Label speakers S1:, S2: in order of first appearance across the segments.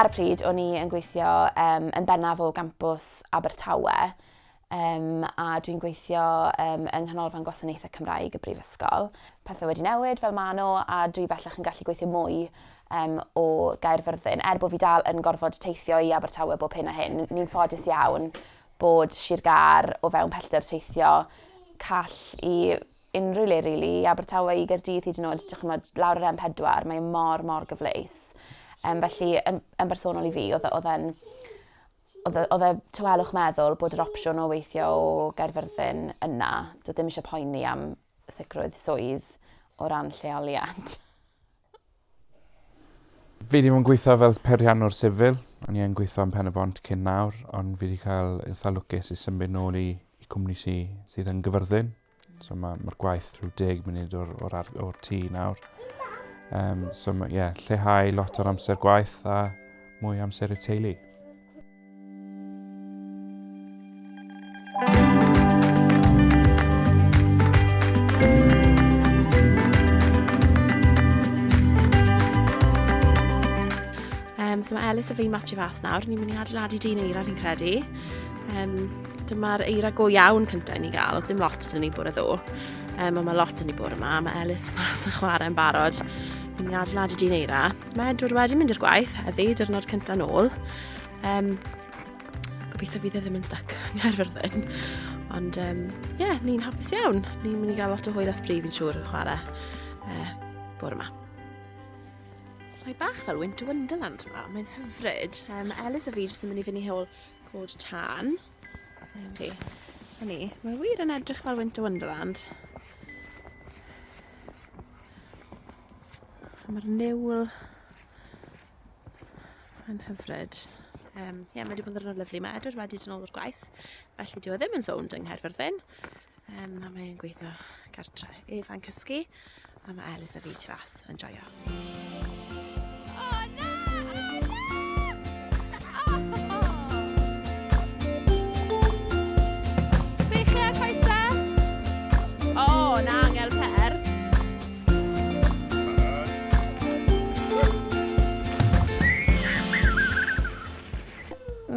S1: Ar y pryd, o'n i yn gweithio um, yn bennaf o gampws Abertawe, um, a dwi'n gweithio um, yng Nghanolfan Gwasanaethau Cymraeg y Brifysgol. Pethau wedi newid fel maen nhw, a dwi bellach yn gallu gweithio mwy um, o Gaerfyrddin. Er bod fi dal yn gorfod teithio i Abertawe bob hyn a hyn, ni'n ffodus iawn bod Sir Gar o fewn pellter teithio call i unrhyw le rili, i Abertawe, i Gaerdydd hyd yn oed, dych chymod, lawr yr M4, mae e mor, mor gyfleus. Um, felly, yn, yn bersonol i fi, oedd e, e'n oedd e, oedd e tywelwch meddwl bod yr opsiwn o weithio o Gaerfyrddin yna. Doedd ddim eisiau poeni am sicrwydd swydd o ran lleoliad.
S2: Fi ddim yn gweithio fel perianwr sifil, o'n i'n gweithio yn pen y bont cyn nawr, ond fi wedi cael eitha lwcus i symud nôl i, i cwmni sy, sydd yn gyfyrddin. So mae'r ma gwaith rhyw deg munud o'r, or, or, or tŷ nawr. Um, so mae, yeah, lleihau lot o'r amser gwaith a mwy amser y teulu. Um,
S3: so mae Elis a fi mas tu fas nawr, ni'n mynd i adeiladu dyn eira fi'n credu. Um, Dyma'r eira go iawn cyntaf i ni gael, oedd dim lot yn ni bore ddo. Um, ond mae lot yn ni bore yma, mae Elis mas yn chwarae yn barod. Yn ni adeiladu dyn eira. Mae Edward wedi mynd i'r gwaith heddi, dyrnod cyntaf nôl. Um, gobeithio fydd e ddim yn stuck yn Gaerfyrddin. Ond ie, um, yeah, ni'n hapus iawn. Ni'n mynd i gael lot o hwyl a sbrif yn siŵr yn chwarae uh, bore yma. Mae bach fel Winter Wonderland yma, mae'n hyfryd. Um, Elis a fi jyst yn mynd i fyny hewl Cod tan. Chi. A ni, mae wir yn edrych fel Winter Wonderland. Mae'r niwl yn hyfryd. Um, ie, yeah, mae wedi bod yn ddwrnod lyflu. Mae Edward wedi dyn ôl o'r gwaith, felly dyw e ddim yn sownd yng Nghaerfyrddin. Um, a mae'n gweithio gartre. Efa'n cysgu, a mae Elis a fi tu fas yn joio.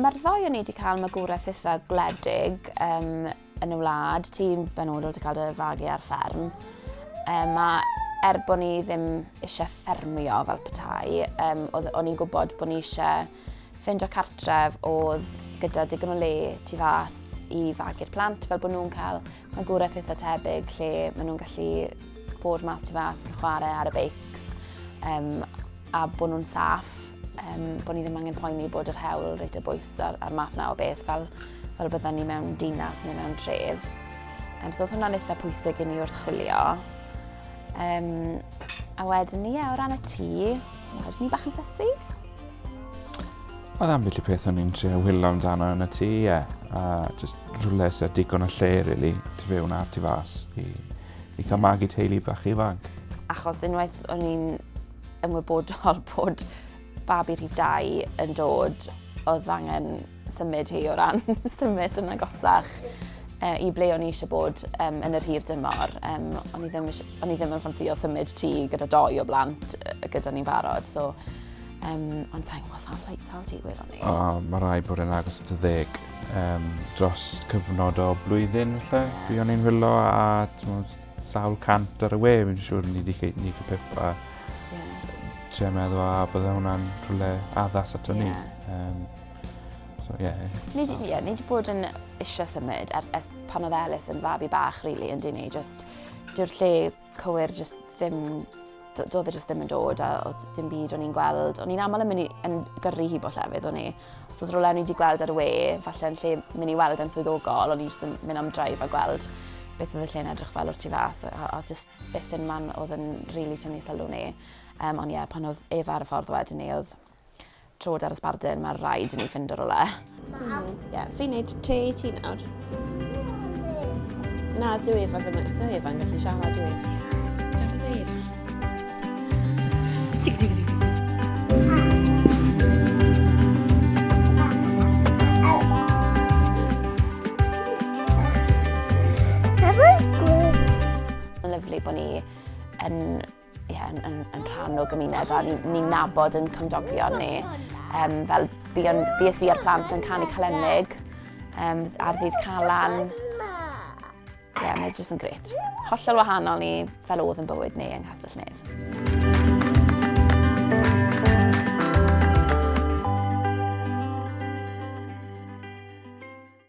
S1: Mae'r ddoi o'n i wedi cael magwraeth eitha gwledig um, yn y wlad, ti'n benodol ti'n cael dy fagu ar fferm. Um, mae er bod ni ddim eisiau ffermio fel petai, um, o'n i'n gwybod bod ni eisiau ffeindio cartref oedd gyda digon o le tu fas i fagu'r plant fel bod nhw'n cael magwraeth eitha tebyg lle maen nhw'n gallu bod mas tu fas yn chwarae ar y beics um, a bod nhw'n saff um, bod ni ddim angen poeni bod yr hewl reit y bwys a'r, ar math na o beth fel fel bydden ni mewn dinas neu mewn tref. Um, so oedd hwnna'n eitha pwysig i ni wrth chwilio. Um, a wedyn ni, yeah, o ran y tŷ, oedd ni bach yn ffysi.
S2: Oedd am felly peth o'n i'n trio hwylo amdano yn y tŷ, ie. Yeah. A just rhywle sy'n digon o lle, really, tu fewn a tu fas i, i cael magu teulu bach ifanc. Achos unwaith o'n i'n
S1: ymwybodol bod babi rhif dau yn dod, oedd angen symud hi o ran symud yn agosach uh, i ble o'n i eisiau bod um, yn yr hir dymor. Um, o'n, i ddim, o'n i ddim yn ffansio symud ti gyda doi o blant gyda ni'n barod. So, um, ond sa'n gwybod sa'n dweud sa'n ti gwir o'n i. Oh, mae rai bod yn
S2: agos at y ddeg. Um, dros cyfnod o blwyddyn lle, fi o'n i'n hwyllo a sawl cant ar y we, fi'n siŵr ni wedi ni wedi pip a yeah. tre meddwl a bydde hwnna'n rhywle addas ato yeah. ni. Um, So, ie. Yeah. Ni, so. yeah, ni wedi
S1: bod yn eisiau symud er, er, pan oedd Elis yn fabi bach, really, yn dyn ni. Just, dyw'r lle cywir just ddim doedd e jyst ddim yn dod a oedd dim byd o'n i'n gweld. O'n i'n aml yn mynd i, yn gyrru hi bo llefydd o'n i. Os oedd rolau o'n i wedi gweld ar y we, falle yn lle mynd i weld yn swyddogol, o'n i jyst yn mynd am draif a gweld beth oedd y lle'n edrych fel o'r tu fas, a, a just beth yn man oedd yn rili really tynnu sylw ni. Um, ond ie, yeah, pan oedd ef ar y ffordd wedyn ni, oedd Trod ar y sbardun, mae'n rhaid i ni fynd o rwle. Ie,
S3: fi'n neud te i ti nawr. Na, dwi efo ddim yn so Efa'n gallu siarad dwi. Dig,
S1: dig, dig, dig. Mae'n lyflu bod ni yn Ie, yeah, yn, yn, yn rhan o gymuned a ni'n ni nabod yn cymdogion ni. Um, fel buon, bues i a'r plant yn canu calennig um, ar ddydd Calan. Ie, yeah, mae'n jyst yn gret. Hollol wahanol ni fel oedd yn bywyd ni yng Nghastell Nedd.